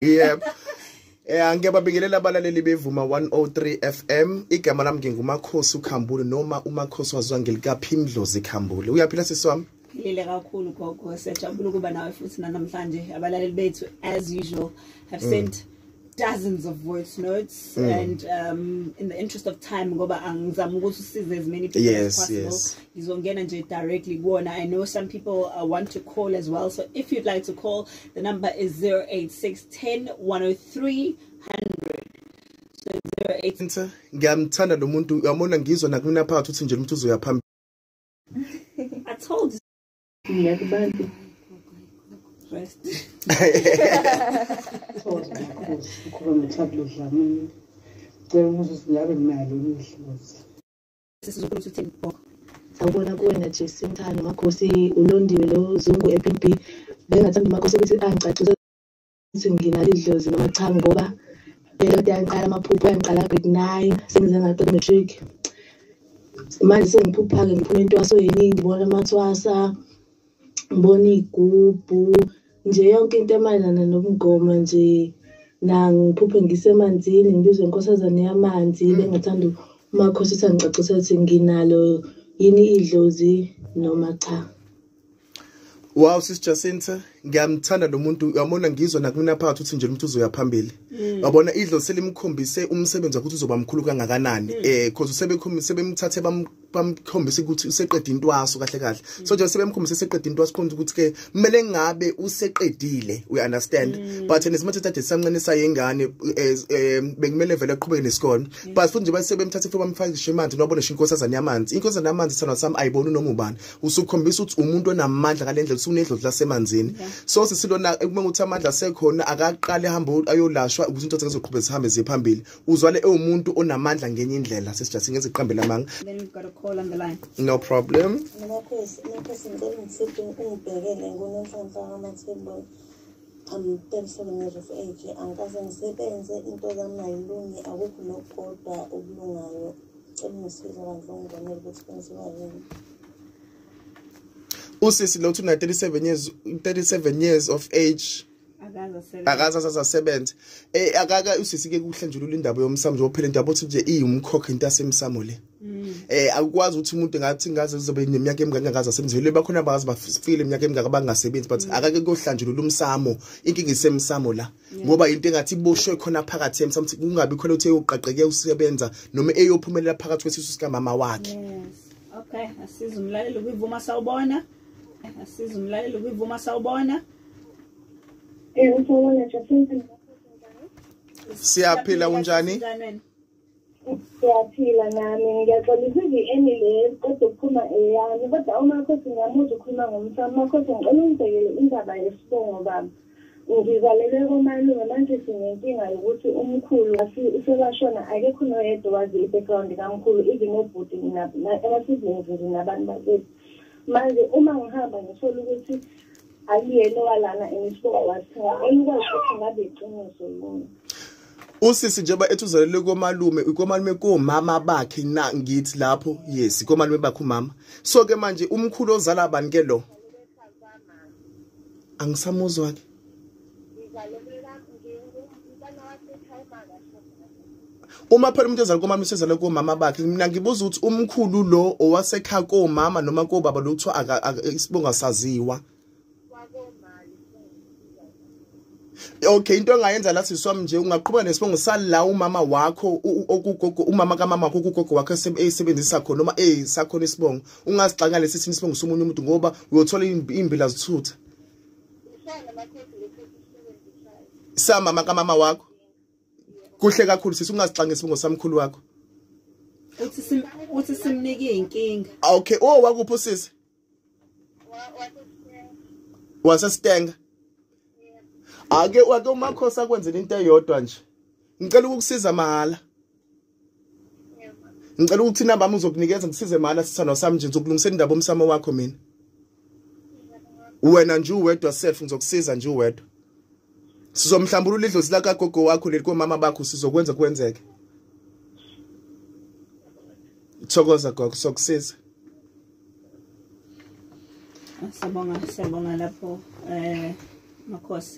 yep Eh angike babingelela abalaleli bevuma 103 FM igama lami ngingumakhosi ukhambule noma umakhosi wazwa ngelikaphimdlozi khambule uyaphila sisi wami Lile kakhulu gogo siyajabula ukuba nawe futhi namhlanje abalaleli bethu as usual have sent mm. dozens of voice notes mm. and um, in the interest of time ngoba angizama ukuthi usize as many people yes, as possible yes. ngizongena nje directly kuwona i know some people uh, want to call as well so if you'd like to call the number is 08610 103 so 08 ngiyamthanda lo muntu uyamona ngizwa nakumina phakathi uthi nje umuntu uzoya phambili i told you Ngiya kubantu. Rest. Thola inkosi ukuba ngeThablo Dlamini. Cela umuzi singabe nalo umdlozi. Sesizokulu uthini bok. Sawubona kuwena Jesu Mthando makhosi ulondiwe lo Zungu ePimpi. Bengathanda makhosi ukuthi angicacisele ukuthi nginalo idlozi noma cha ngoba into kade yangiqala amaphupho yangiqala grade nine sengize ngaqeda matric manje sengiphupha-ke ngiphuma intwaso yeningi ngibona amathwasa ngibona iy'gubhu nje yonke into emayelana nobungoma nje nangiphuphe ngisemanzini ngibizwe inkosazane yamanzi mm. bengathanda umakhosi ukuthi angicacise ukuthi nginalo yini idlozi noma cha Wow sis Jacinta ngiyamthanda lo muntu uyamona ngizwa nakumina phakathi uthi nje umuntu uzoya phambili mm. wabona idlo selimkhombise umsebenzi ukuthi uzoba mkhulu kangakanani mm. eh because sebekhombise sebemthathe bamkhombise ukuthi useqedile intwaso kahle kahle mm. so nje sebemkhombise seqedile intwaso khona ukuthi ke kumele ngabe useqedile we understand but and simathe thathe samncane sayengane eh, eh, bekumele vele aqhubeke nesikole but futhi nje basebemthathe futhi bamfakishe emanzi nobona shinkosi azani yamanzi inkosi azani yamanzi sana sami ayibona noma ubani usukhombisa ukuthi umuntu onamandla ngalendlela usunedlozi lasemanzini so sisilona uma ukuthi amandla asekhona akaqale hamba ayolashwa ukuthi into zizoqhubeka zihambe ziye phambili uzwale ewumuntu onamandla ngenye indlela sesijathi ngeze iqambe lamanga no problem I'm 37 years of age angikaze ngisebenze into zami ayilungi akukho nokukodwa okulungayo usisi lo uthuna 37 years 37 years of age akaza sasasebenza eh akaka usisi ke kuhle nje ulindaba yomsamo nje ophela into yabothi nje iyumkhokha into yasemsamo le mm. eh akukwazi ukuthi umuntu ngathi ngaze uzobe neminyaka emingaka ngaze asemzweni bakhona abazi bafile iminyaka emingaka bangasebenzi but mm. akake kohlanjulula umsamo inkinga isemsamo la ngoba into engathi iboshwe khona phakathi yena somthi kungabi khona ukuthi eyoqaqeke usebenza noma eyophumelela phakathi kwesisu sikamama wakhe okay asiza umlaleli kwivuma sawubona asiza umlaleli kwivuma sawubona eh, siyaphila unjani siyaphila nami ngiyaxolisa ivi-eni le kodwa ukuphuma eyami kodwa umakhosi ngiyamuzwa ukhuluma ngomfana umakhosi ngicela ungibhekele indaba yesibongo baba ngizalelwe komalume manje sinenkinga yokuthi umkhulu usebashona akekho noyedwa wazi i-background kamkhulu even obhuti ama-siblings nje nabantu bakwethu manje uma ngihamba ngithole ukuthi akuyena owalana and isibongo wasithenga enikwazi ukuthi ngabe iqiniso yini usisi njengoba ethi uzalelwe komalume komalume komama bakhe na ngithi lapho yes komalume bakhe umama so ke manje umkhulu ozala abantu ke lo angisamuzwa ke uma phela umuntu ezalwa komama usezalwa komama bakhe mina ngibuza ukuthi umkhulu lo owasekhaya komama noma kobaba lo kuthiwa isibongo asaziwa okay into engayenza la siswami nje ungaqhubeka nesibongo sala umama wakho okugogo umama kamama wakho kugogo wakho esebenzisa khona noma eh sakhona isibongo ungasixaka lesi sini isibongo somunye umuntu ngoba uyothola imbila zithutha sa mama kamama wakho kuhle kakhulu sisi ungasixanga isibongo samkhulu wakho uthi simnike inkinga okay oh wakuphi usisi wasestenga ake ake umakhosi akwenzela into eyodwa nje ngicela ukukusiza mahhala ngicela ukuthi inamba yami uzokunikeza ngisize mahhala sithando sami nje ngizokulungisela indaba omsamo wakho mina wena nje uwedwa self ngizokusiza nje uwedwa sizomhlambulula idlozi lakagogo wakho leli komama bakho sizokwenza kwenzeke thokoza gogo sokusiza Siyabonga, siyabonga lapho eh makhosi.